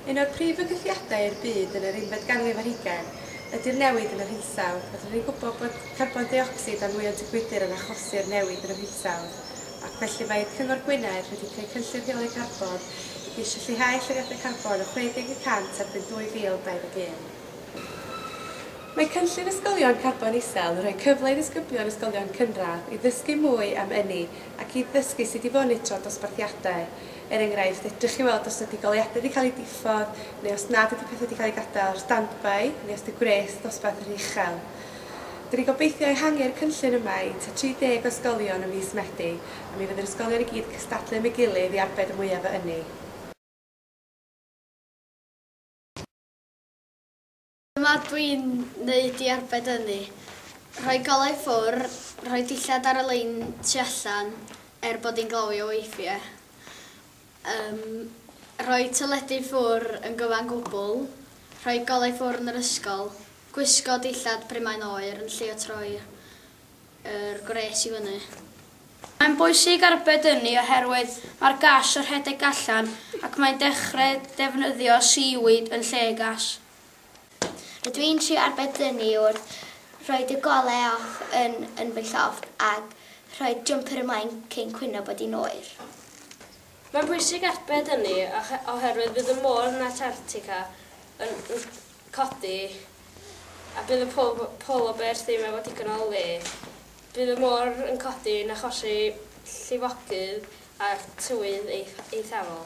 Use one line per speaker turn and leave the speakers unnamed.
Un o'r prif fygythiadau i'r byd yn yr unfed ganrif ar hugain ydy'r newid yn yr hinsawdd. Rydyn ni'n gwybod bod carbon deuocsid a nwyon tŷ gwydr yn achosi'r newid yn yr hinsawdd, ac felly mae Cyngor Gwynedd wedi creu Cynllun Rheoli Carbon i geisio lleihau allyriadau carbon o 60 y cant erbyn 2021. Mae cynllun Ysgolion Carbon Isel yn rhoi cyfle i ddisgyblion ysgolion cynradd i ddysgu mwy am ynni ac i ddysgu sut i fonitro dosbarthiadau. Er enghraifft, fedrwch chi weld os ydy goleuadau wedi cael eu diffodd neu os nad ydy pethau wedi cael eu gadael ar standby neu os ydy gwres dosbarth yn rhy uchel. Dyn ni'n gobeithio ehangu'r cynllun yma i tua 30 o ysgolion ym mis Medi a mi fydd yr ysgolion i gyd yn cystadlu am ei gilydd i arbed y mwyaf o ynni.
Dyma dwi'n neud i arbed ynni, rhoi golau ffwr, rhoi dillad ar y lein tu allan er bod hi'n glawio weithie, yym, rhoi teledu ffwr yn gyfan gwbl, rhoi golau ffwr yn yr ysgol, gwisgo dillad pry mae'n oer yn lle o troi yr gwres i fyny. Mae'n
bwysig arbed ynni oherwydd mae'r gas yn rhedeg allan ac mae'n dechre defnyddio seaweed yn lle gas.
Rydw i'n trio arbed dynnu wrth roi dy gole off yn yn fy llofft ac rhoi'r jwmper ymlaen cyn cwyno bod hi'n oer. Mae'n
bwysig arbed dynnu oherwydd bydd y môr yn Antarctica yn codi a bydd y polar bears ddim efo digon o le. Bydd y môr yn codi yn achosi llifogydd a tywydd eithafol.